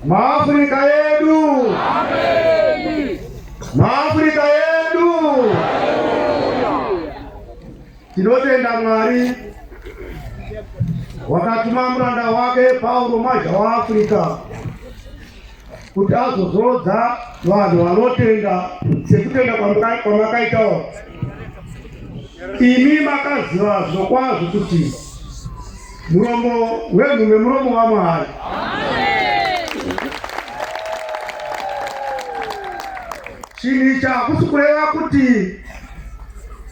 Maafrika yedu, Maafrika yedu, tinotenda Mwari wakatuma muranda wake Paulo mazha wa Afrika kuti azozodza vanhu vanotenda sekutenda kwamakaitawo imi makaziva zvokwazvo kuti muromo wenhu nemuromo wamwari chinhu ichi hakusi kureva kuti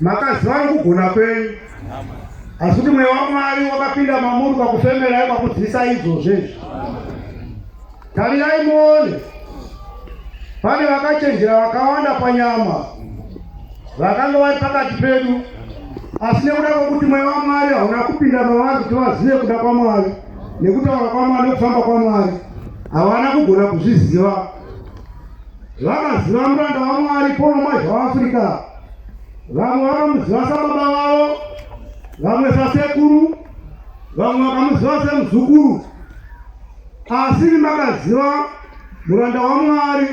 makaziva nekugona kwenyu asi kuti mweya wamwari wakapinda mamuri kwakufemerai kwakudzisai idzozvezvi tarirai muone pane vakachenjera vakawanda panyama vakanga vari pakati pedu asi nekuda kwekuti mweya wamwari hauna kupinda mavari kuti vazive kuda kwamwari nekutaura kwamwari nekufamba kwamwari havana kugona kuzviziva vakaziva muranda wamwari pono mazha waafrica vamwe vakamuziva sababa vavo vamwe sasekuru vamwe vakamuziva semuzukuru asi makaziva muranda wamwari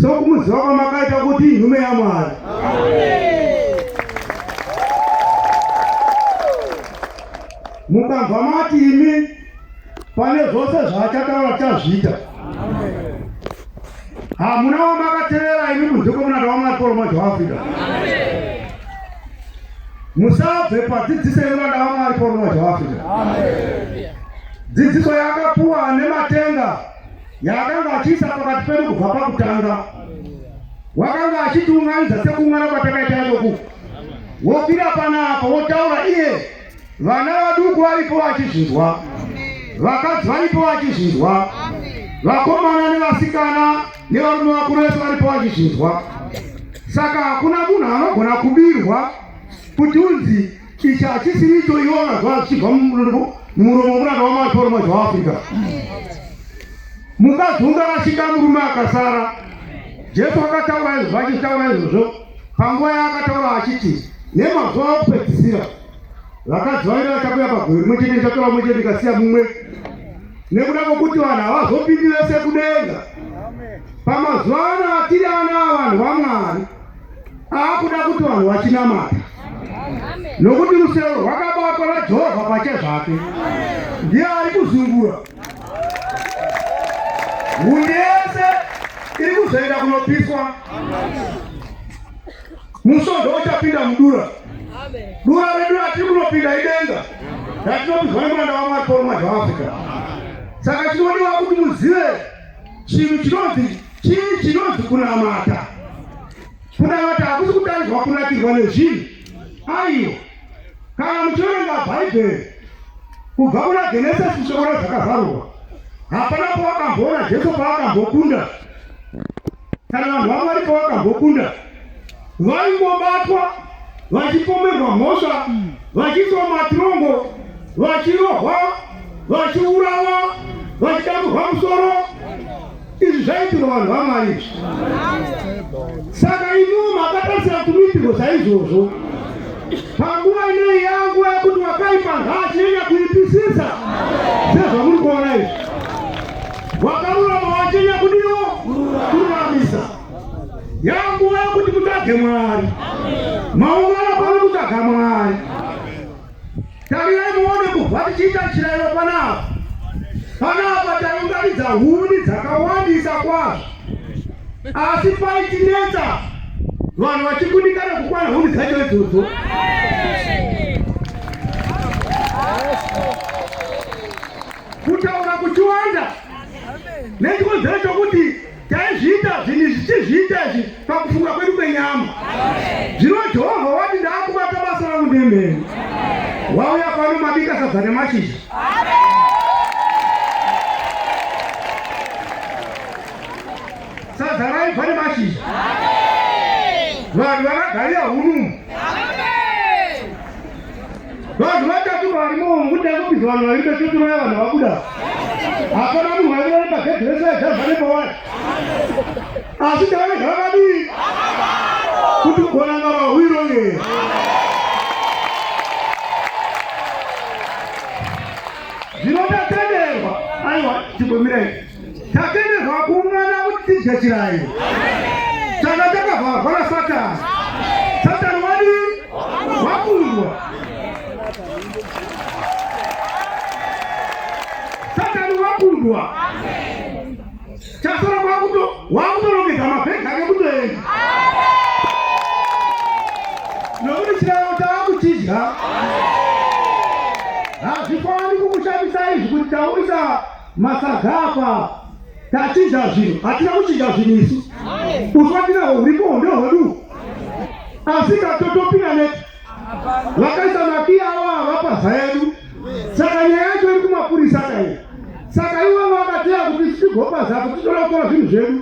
sokumuziva kwamakaita kuti nhume yamwari mukabva mati imi pane zvose zvaachataura tichazviita hamuna wamakatevera imi kunze kwemunada wamwari polo mwacho waafrika musabve padzidziso yemunada wamwari polo mwacho waafrika dzidziso yakapuwa nematenga yaakanga achiisa pakati pedu kubva pakutanga wakanga achitiunganidza sekumwana kwatakaita idoku wopira panapa wotaura iye Vana vaduku varipo vachizvinzwa, vakadzi varipo vachizvinzwa, vakomana nevasikana nevarume vakuru vese varipo vachizvinzwa. Saka hakuna munhu anogona kubirwa kuti unzi ichi hachisiri icho iwo vanazwa zvichibva mumuromo muranda wamaporoma zveafrica. Mukadzi ungarashika murume akasara. Jesu akataura izvozvo, achitaura izvozvo Panguva yaakataura achiti nemazuva okupedzisira vakadzi vainge vachakuya pagore rimwe chete ndichatora umwe chete ndikasiya mumwe nekuda kwokuti vanhu havazopindi vese kudenga pamazuva ano atiri ana avanhu vamwari aakuda kuti vanhu vachinamata nokuti rusero rwakabatwa najehovha pache zvake ndiye ari kuzungura Hundi yese iri kuzoenda kunopiswa. Musodho uchapinda mudura. Dura redu ratiri kunopinda idenga ratinopinzwa nemuranda waMwari Paul Mwadzi waAfrica. Saka chinodiwa kuti muzive chinhu chinonzi chii chinonzi kunamata. Kunamata hakusi kutanzwa kunakirwa nezvinhu aiyo Kana muchiverenga Bhaibheri kubva kuna Genesisi kusvikora zvakazarurwa, hapana pawakamboona Jesu paakambokunda kana vanhu vaMwari pavakambokunda, vaingobatwa vachipomerwa mhosva, vachiiswa matirongo, vachirohwa, vachiurawa, vachidamburwa musoro Izvi zvaitirwa vanhu vaMwari izvi. Saka imiwo makatarisira kumitirwo saizvozvo. Panguva inei yangu yekuti wakaipa nhaa chinenya kuipisisa sezvamuri kuona izvi. Wakarurama wachenya kudiwo kururamisa. Yanguva yekuti mutsvage Mwari. Maungana pano kutsvaga Mwari. Tarirai muone kubva tichiita chirayiro panapa. Panapa taunganidza huni dzakawandisa kwazvo, asi paitinetsa vanhu vachikundikana kukwana huni dzacho idzodzo. Kutaura kuchiwanda nechikonzero chokuti taizviita zvinhu izvi tichizviita izvi pakufunga kwedu kwenyama zvino jehovha wati ndaakubata basa rangu nemheni wauya pano mabika sadza nemashizha sadza raibva nemashizha vanhu vakagarira hunumu Vanhu vatatu vari muomo kuti akupinza vanhu vaviri vechitoroya vanhu vabuda. Hapana munhu waiva ari pagedhi rese aidhazva nepawari. Asi tavane zvakadii? Kuti kuonanga mahwiro ye. Zvinoda tenderwa. Aiwa, chigomira ichi. Tatenderwa kuungana kuti tidye chirairo. Tanga takavharwa naSatani. Satani wadi wakundwa. Satani wakundwa. Chasara kwakuto wakutorongedza mabhegi ake kutoenda. Nokuti chirairo takuchidya. Hazvifaniri kukushamisa izvi kuti tauyisa Masaga apa tachinja zvinhu, hatina kuchinja zvinhu isu. Uswatira huripo ndio hwedu. Asi katotopina neti. Vakaisa makia awa vapa zaedu. Saka nyaya yacho iri kumapurisa kai. Saka iwe vakateya kuti tigopa zako titora tora zvinhu zvedu.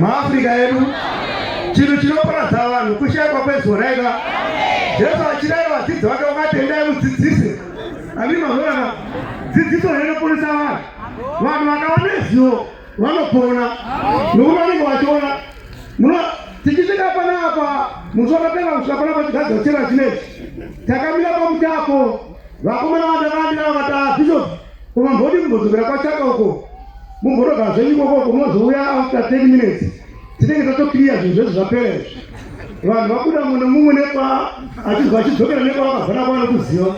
maafrica edu chinhu chinoparadza vanhu kushaikwa kwezorega jesu achirayira vadzidzi vake vakatendai mudzidzisi amii mazorana dzidziso rinoponesa vanhu vanhu vakava nezivo vanopona nokuti vanenge vachiona muno tichisvika panapa musi wakapera kusvika panapa chigadzwa chera chinei takamira pamutapo vakomana vandakandira vakati bishop Kumambodi kumbodzokera kwachaka uko mumbotoga zvenyu ikoko kunozouya after 10 minutes tinenge tatokiriya zvinhu zvese zvapera izvi vanhu vabuda mune mumwe nekwa achizwa achidzokera nekwa vakavhana kwano kuziva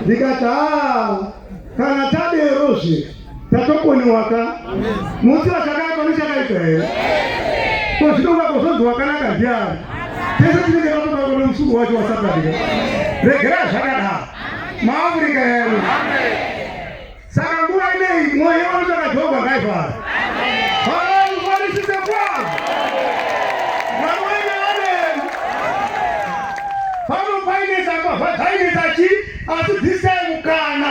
ndikati ha ah, kana taderozve tatokoniwaka musi vachakaipa nechakaipa here ko zvinongakuzonzi wakanaka ndiani tese tinenge tatobakonemusuku wacho wasatadika regera zvakadaro maAfrica edu. Saka nguva ineyi mwoyo yevanotsvaka Jehovha ngaifara. Havaikwanisise kwavo. Vamwene vaneni. Pano painetsa apa, painetsa chi, asi this time kana.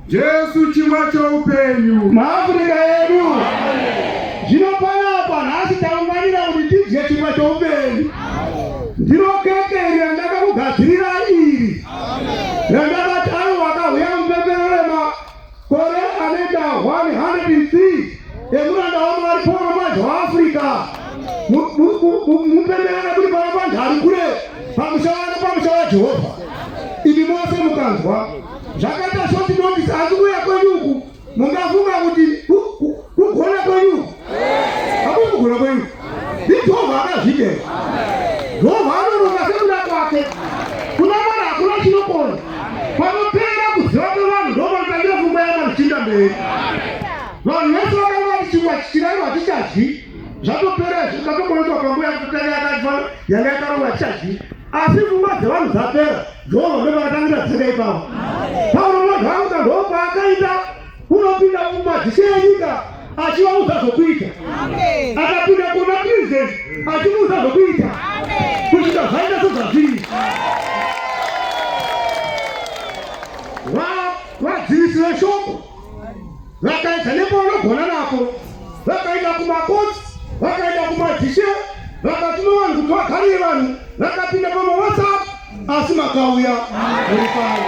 Jesu chingwa choupenyu. MaAfrica edu. Zvino panapa nhasi taunganira kuti tidye chingwa choupenyu. Ndiro keke iri randakakugadzirira iri. Randakati avo vakauya mupepero remakore anoita 103 emuranda wamwari poro mazho waafrica mupepero rekuri pava panhari kure pamusha wano pamusha wajehovha imi mose mukanzwa zvakaita shoti notisi asi kuuya kwenyu uku mungafunga kuti kugona kwenyu hakui kugona kwenyu ndijehovha akazvidera jehovha anoronga sekuda kwake kuna mwana hakuna chinokona panopera kuziva kwevanhu ndomanotangira fumba yamazichinda mberi vanhu vese vakanga vati chingwa chichiraiwa hatichadyi zvatopera izvi zvatomboitwa panguva yekutanga yakaitwa yanga yakarongwa chaji asi pfungwa dzevanhu dzapera jehovha ndo vakatangira dzaka ipapo paulo unodhauka ndo paakaita unopinda pfungwa dzise yenyika achivaudza zvokuita akapinda kuna president achimuudza zvokuita kusvika zvaita sezvazviri vadzivisi veshoko vakaedza nepavanogona napo vakaenda kumakotsi vakaenda kumadhishe vakati novanhu kuti vagarire vanhu vakapinda pamawhatsapp asi makauya uripano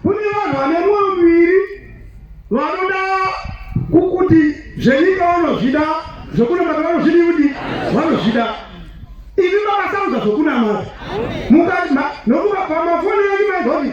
kune vanhu vane mwoyo miviri vanoda kukuti zvenyika vanozvida zvekunamata vanozvidi kuti vanozvida ivi makasauza zvokunamata mukati nokuva pamafoni yenyu maigoti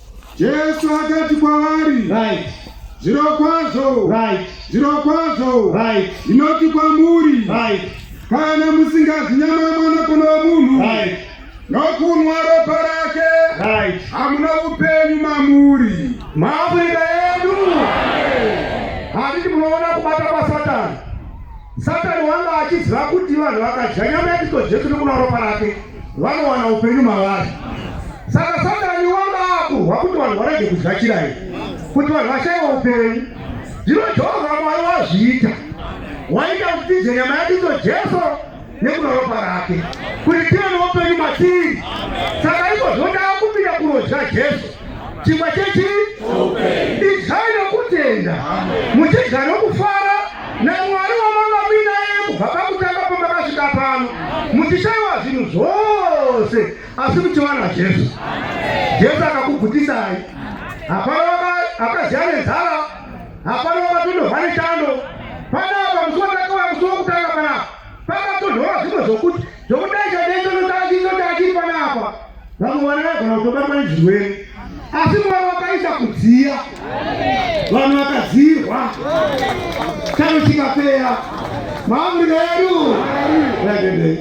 Jesu akati kwavari, right. Zvirokwazvo, right. Zvirokwazvo, right. Ndinoti kwamuri, right. Kana musingadyi nyama yemwanakomana womunhu, right. Nokunwa ropa rake, right. Hamuna upenyu mamuri. Maafrika yedu handiti munoona kubata kwaSatani. Satani wanga achiziva kuti vanhu vakadya nyama yaKristu Jesu nokunwa ropa rake vanowana upenyu mavari. Saka Satani wanga akuhwa kuti vanhu varege kudya chirayi, kuti vanhu vashaiwa upenyu. Zvino Jehovha Mwari wazviita, waita kuti tize nyama yake idzo Jesu nekuda ropa rake, kuti tive noupenyu matiri. Saka izvozvo ndava kupinda kunodya Jesu. chingwa chechi idyai nokutenda muchidya nokufara namwari wamangabina yeye kubva pakutanga pamakasvika pano muchishaiwa zvinhu zvose asi muchiwana jesu jesu akakugutisai hapana akaziva nenzara hapana vakatondohwa nechando panapa musi watakauya musi wokutanga panapa pakatonhora zvimwe zvokuti zvokudai chadei vamwe vana vagona kutobatwa nezvirwere asi mwari wakaisa kudziya vanhu vakadzirwa chano chikapeya maamurika yedu ragendei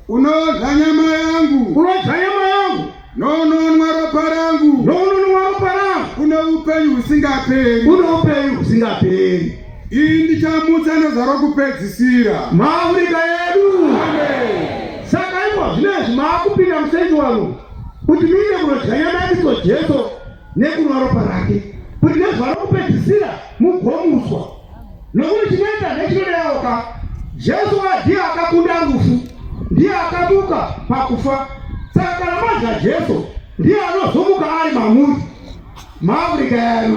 unodya nyama yangu unodya nyama yangu nononwa ropa rangu nononwa ropa rangu une upenyu husingaperi une upenyu husingaperi Iyi ndichamutsa nezva rokupedzisira. Maafurika yedu. Saka ipwa zvinezvi maakupinda musendi wano kuti muine kunodya nyama yaKristo Jesu nekunwa ropa rake kuti nezva rokupedzisira mugomuswa. Nokuti chinoita nechinodeoka Jesu ndiye akakunda rufu, ndiye akamuka pakufa. Saka kana madya Jesu ndiye anozomuka ari mamuri. maafrica yanu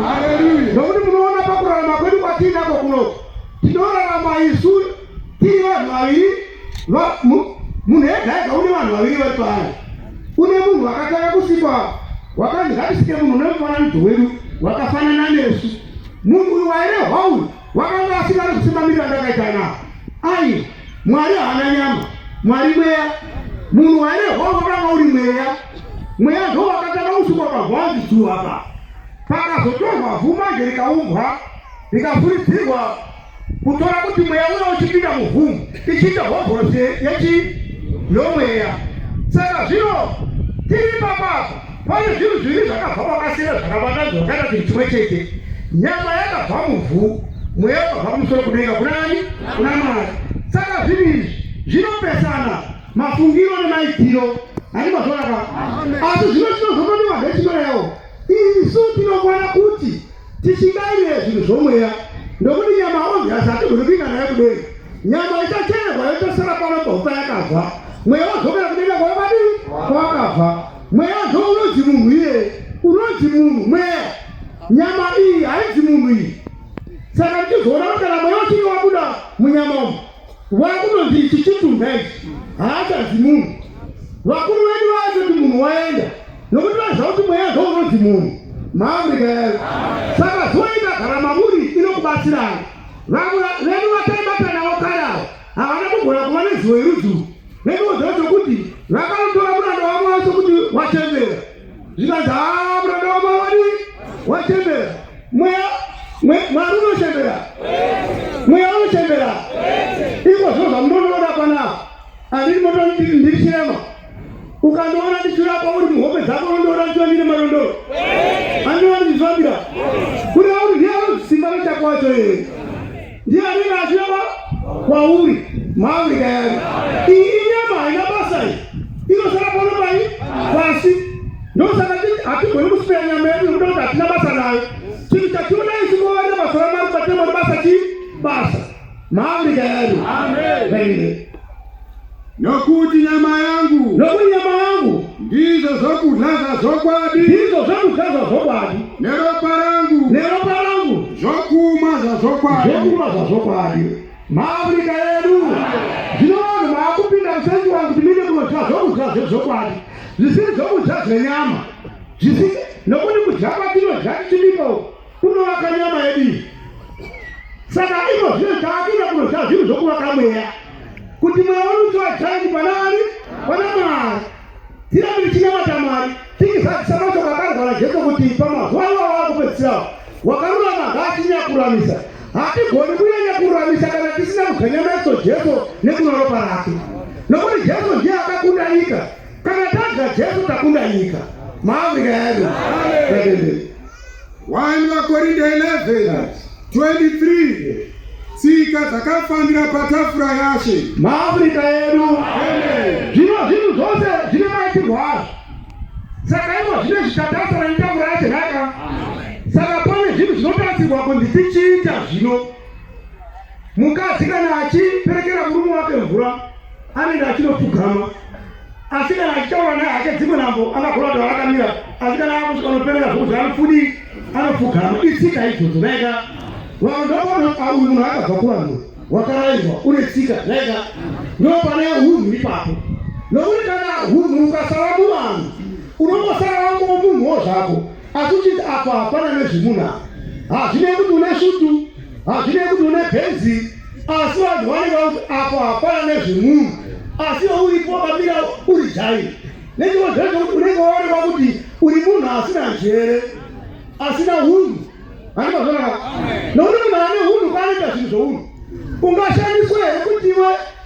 nokuti munoona pakurarama kwedu kwatiinako kuno tinorarama isu tiri vanhu vaviri munhu ega ega une vanhu vaviri vari paari une munhu wakatanga kusikwa wakanzi ngatisike munhu une mufananidzo wedu wakafanana nesu munhu uyu wairehwa uyu wakanga asingari kusimamirira ndakaita navo ai Mwari haana nyama, Mwari mweya. Munhu waine hongo kana uri mweya, mweya ndo wakatanga kusukwa pagwanzi dzuva pa pakazotorwa vhu manje rikaumbwa rikafuridzirwa kutora kuti mweya uya uchipinda muvhumu ichiita hovhorosi yechi yomweya. Saka zvino tiri papapa Pane zvinhu zviviri zvakabva kwakasiyana zvakabatana zvakaita kuti chimwe chete. Nyama yakabva muvhu, mweya wakabva kumusoro kudenga kuna ani? Kuna Mwari. Saka zvinhu izvi zvinopesana mafungiro nemaitiro. Ani mazvoraka? Asi zvino tinozonodiwa zvetinyorewo. Isu tinokwana kuti tisingaire zvinhu zvomweya nokuti nyama onzi hasati guri kuinga nayo kudenga. Nyama ichachererwa yotosara pano paupa yakabva. Mweya wazokera kudenga kwavadii? Kwakabva. mweya ndo unonzi munhu iye unonzi munhu mweya nyama iyi hainzi munhu iyi saka ndichizoona kuti kana mweya uchinge wabuda munyama umu wakunonzi ichi chitunha ichi haachanzi munhu vakuru vedu vaati kuti munhu waenda nokuti vaiziva kuti mweya ndo unonzi munhu maafrika yayo saka zoita gara mamuri inokubatsirai vamwe vedu vataibata navo kare avo Havana kugona kuva nezivo yerudzi urwu nenguva dzavo dzokuti vakanotora muranda wavo wacho kuti wachembera zvikanzi haa muranda wavo wavadi wachembera mweya mwari unochembera mweya unochembera iko zvino zvamunonoona panapa andiri moto ndiri chirema ukandoona ndichirapa uri muhope dzako rondoona ndichonire marondoro andiwa ndichizvambira kuri auri ndiye anozisimba nochako wacho yeye ndiye anenge achirapa kwauri mauri kayari iyi inyama haina basa iyi inosara pano pai pasi ndosaka ti hatigoni kusipira nyama yedu nokuda kuti hatina basa nayo chinhu chationa isi kuvavarira basa ramari patemori basa chii basa mauri kayari Nokuti nyama yangu. Nokuti nyama yangu. Ndizvo zvokudya zvokwadi. Ndizvo zvokudya zvokwadi. Neropa rangu. Neropa rangu. Zvokumwa zvokwadi. Zvokumwa zvokwadi. Maafrika yedu. Zvino vanhu vaakupinda musenzi wangu kuti mine kunodya zvokudya zvezvokwadi. Zvisiri zvokudya zvenyama. Zvisiri nokuti kudya kwatinodya tichibika uku. Kunovaka nyama yedu iyi. Saka imo zvino taakira kunoziva zvinhu zvokuvaka mweya. Kuti mweya wedu uchivachaini pana ani? Pana Mwari. Tirambe tichinamata Mwari. Tikizadzisa mashoko akarwara Jesu kuti pamazuva iwawo akupedzisirawo. Wakarurama ngaachinyakuramisa. Hatigoni kunyanya kuramisa kana tisina kudya nyama yacho Jesu nekunwa ropa rake. Nokuti Jesu ndiye akakunda nyika. Kana tadya Jesu takunda nyika. Maafrika yedu. Amen. 1 Vakorinda 11 23 tsika dzakafanira patafura yashe maafrica edu zvino zvinhu zvose zvine maitirwo azvo saka ivo zvine zvichatarisana netafura yashe nhaka saka pane zvinhu zvinotarisirwa kunzi tichiita zvino mukadzi kana achiperekera murume wake mvura anenge achinopfugama asi kana achitaura naye hake dzimwe nambo anagona kuti vaakamira asi kana akusvika anoperera zvokuti anopfudi anopfugama itsika idzodzo naika vandoona auyu munhu akabva kuvanhu wakaraidzwa une tsika naika ndopane hunhu ipapo nokuti kana hunhu ukasava muvanhu unongosara wangomunhuwo zvako asi uchiti apa hapana nezvemunhu apa hazvinei kuti une svutu hazvinei kuti une bhenzi asi vanhu vanenge vakuti apa hapana nezvemunhu asi iwe uripo wakamira uri jairi nechiko zvezvo kuti unenge waonekwa kuti uri munhu asina njere asina hunhu animazonaka nokuti munhu ane hunhu kwaanoita zvinhu zvounhu ungashandiswa here kuti iwe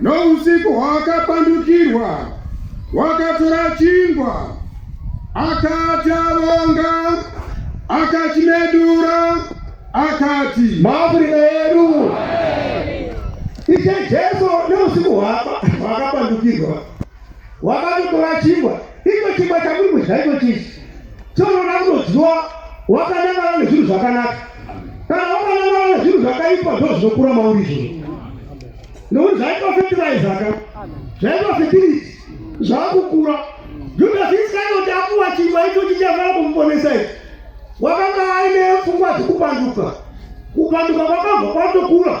Nousiku hwakapandukirwa, wakatora chingwa, akati avonga, akachimedura, akati maafurika edu ishe Jesu nousiku hwakapandukirwa wakatotora chingwa Iko chingwa chakuri kudya iko chisi chonoda kunodyiwa wakanangana nezvinhu zvakanaka. Kana wakanangana nezvinhu zvakaipa ndo zvinokura mauri izvozvo. Nokuti zvaitwa fetiraiza ka zvaitwa fetiriti zvakukura. Judasi Iskarioti akuwa chingwa icho chichafanira kumuponesa ichi. Wakanga aine pfungwa dzekupanduka. Kupanduka kwakabva kwatokura.